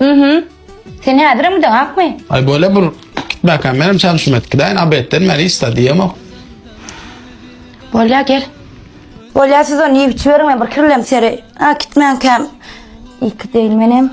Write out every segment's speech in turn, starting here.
Mhm. Sen häzirem gideň akmy? Ay böyle bir gitmekem benim çalışım et gideyin abetten beni ista diyemok. Bolya gel. Bolya siz onu yiyip içiverin ben bir kirlem seri. Ha gitmen kem. İki değil menem.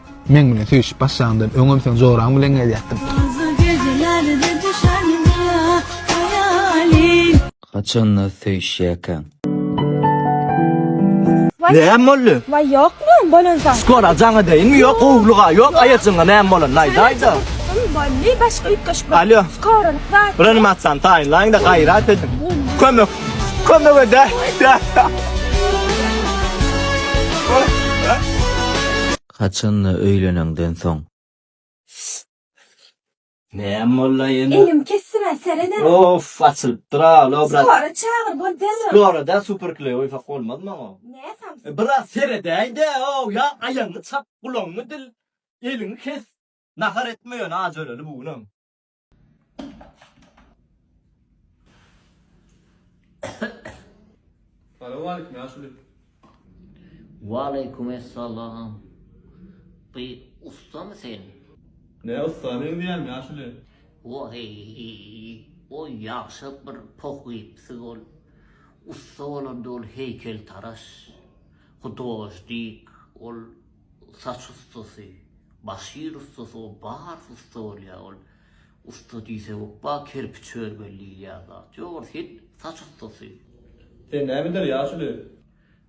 Meň bilen söýüşip başlaňdan öňem sen joraň bilen gezýätdiň. Haçanda söýüşýäkäň? Näme boldy? Wai ýokmy bolansoň. Skora jaň edeýinmi ýok gowulyga ýok aýajyňa näme bolan aýda aýda. Boldy başga üýtgeşik. Alo. Skora zat. Reanimasiýany taýynlaýyňda gaýrat ediň. Kömek. Kömek ede. Haçanda öýleneňden soň? Näme bolda ýene? Elim kesdimä seredem. Of açylypdyra lobra. Sonra çagyr bol derrew. Lorada super kley oýsak bolmaz maňa. Nä samsyk. Biraz seredäýdä ow ýa aýagyňy çap gulagyňy dil eliňi kes nahar etme ýöne aç öleli bu günem. Salam aleyküm yaşuly. Waleýkum essalam. Bu ustamy sen? Ne usta men diýýän yaşuly. Oheý. O ýagşa bir poh gypsy ol. Usta bolan dol heýkel taraş. Hudoždik ol. saç ussasy, başir ussasy o barys ussa bolýar ol. Ussa diýse ba kerpiç örmeli diýilýän zat ýok ol hil saç ussasy. Sen näme der ýaş uli.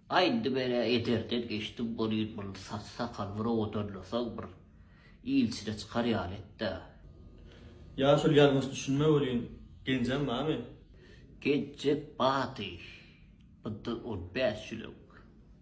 Aý indi men ä ederden geçdim bolýyn bul saç sakal bir owadanlasaň bir ilçine çykar ýaly etdä. Ýaş uli ýalňyş düşünme welin genjem bamy. Genjek bady. Mundan on bäş ýyl öň.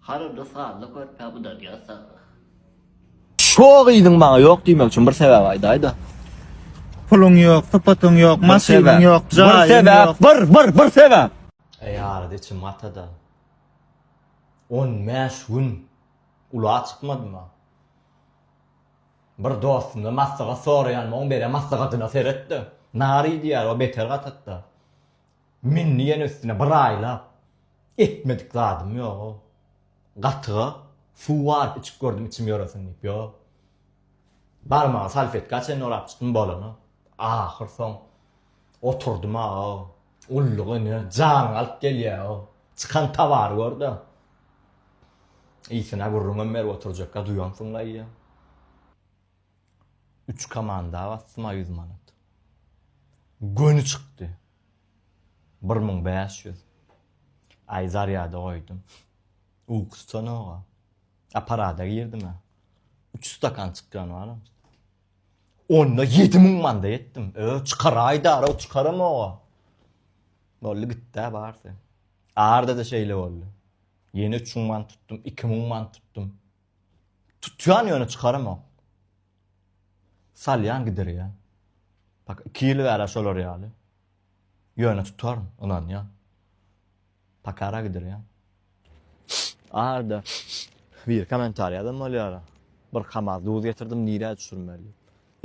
Harada sazly körpä udalýas sagja. Şo gyzyň maňa ýok diýmek üçin bir sebäp aýdaýda. Puluň ýok, sypatyň ýok, maşynyň ýok, jaýyň ýok. Bir sebäp, bir, bir, bir sebäp. Eý arada içim gatada. On bäş gün ula çykmadyma. Bir dostumdan maslahat soraýanma oň beren maslahatyna seretde. Nary diýýär o beter gatatda. Men diýen üstüne bir aýlap etmedik zadym ýoga. Gatyga suw baryp içip gördüm içim ýoresin diýip ýo. Barmagy salfetka çenli orap çykdym bolana. Ahyr soň oturdym aga. Gulluk ene janyňy alyp gelýäo. Çykan towary görde. Ysyna gürrüňem berip oturjakka duýansyň daýy. Üç komanda basdyma ýüz manat. Göni çykdy. Bir müň bäş ýüz. Aý zarýada goýdum. Uky tutanoga. Aparada girdim-ä. Üç stakan çykýan baram. Onda ýedi müň manda etdim. Ö, çykaraýdara, çykaramoga. Boldy gitdi-ä barsy. Arda-da şeýle boldy. Ýene üç müň man tutdum, iki müň man tutdum. Tutýan ýöne çykaramok. Salýan gidirýän. Bak 2 ýyl bäri şolar ýaly. Ýöne tutaryn, ynanýan. Pakara gidirýän. Arda bir kommentariýa da bolýar. Bir kamaz duz getirdim, nirä düşürmeli?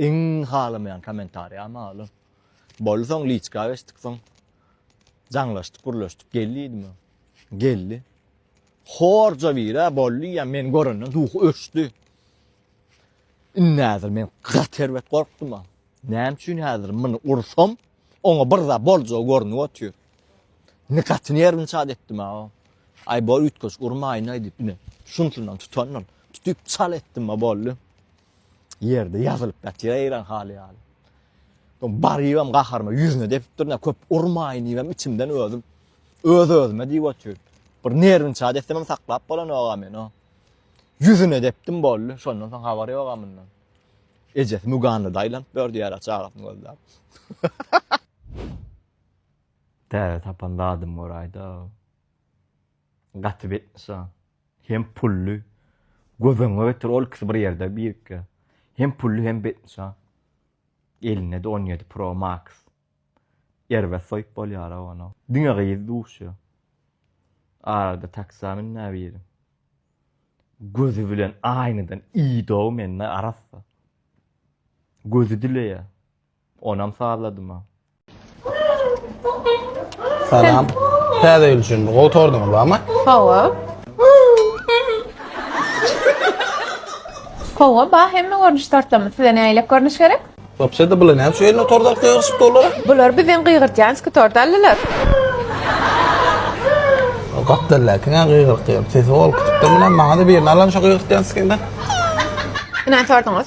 Iň halamaýan kommentariýa maly. Boldy soň liçka geçdik soň. Jaňlaşdyk, gürleşdik. Gel diýdim. Geldi. Horja bire boldy ya men görenden ruhu öçdi. Innazir men gat erbet gorkdum. Näme üçin hazir muny ursam, oňa bir zat boljagy görnüp otyr. Ne gatyny yerini çat etdim ha. Ay bol ütköş urmayın ay dip ne. Şunsundan tutandan tutup çal etdim ha boldy. ýerde ýazylyp ýatyr eýran haly ýaly. Soň barybam gaharyma ýüzüne depip durna köp urmaýyn diýibem içimden özüm öz özüme diýip otyr. Bir nerwin çat etsemem saklap bolanok-a men o. Ýüzüne depdim boldy. Şondan soň habar ýok-a mundan. Ejesi Muganda daýlanyp ýör diýýär çagasyny gözläp. Täze tapan zadym gör aýda. Gaty betnyşa. Hem pully. Göz öňüňe getir ol ikisi bir ýerde birikge. Hem pully hem betnyşa. Elinde-de on ýedi pro max. Erbet soýup bolýar-a ony. Diňe gyz duşýa. Arada taksi-a münýä biri. Gözi bilen aýnadan iýdi-ow mende arassa. Gözi dileýä. Onam sazladyma. Salam. Täze ýyl üçin bir gowy tordyňyz barmy? Hawa. Hawa, ba hemme görnüş tortlamy. Size näýlek görnüş gerek? Wapşede bular näme şu eline tort alyp gygyrşyp durlar? Bular bizden gygyrtýanski tort aldylar. Gapdalla kime gygyrk gygyrp sesi ol kütükden bilen maňa da birini alan şu gygyrtýanskinden. Ine tortuňyz.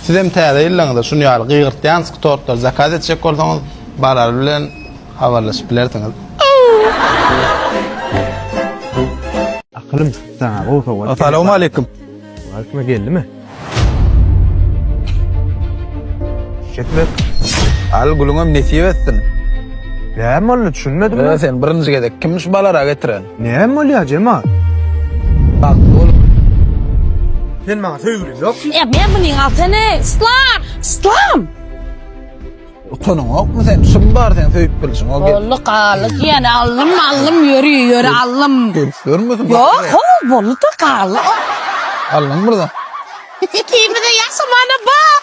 Sizem täze ýyllaryňyza şuny ýaly gygyrtýanski tortlary zakaz etjek bolsaňyz barar bilen habarlaşyp bilersiňiz. Akylym çykypdy saňa gowy sowgat berip. Assalamualeýkum. Waleýkum geldimi? Çek ber. Al gülüňem nesip etsin. Näme boldy düşünmedim. Sen birinji gezek kimmiş balara getiren? Näme bolýar jemat? Bagtly bolup. Sen maňa söýgüliň ýokmy? Ýa men munyň altyny islam! Islam! Utanyň ýokmy sen? Şum bar sen söýüp bilşiň ol gelin. Bolly galy diýen allym allym ýöri ýöri allym. Gelip görmesin. Ýok ho bolly da galy. Allym burada. Ikimize ýaşamana bak.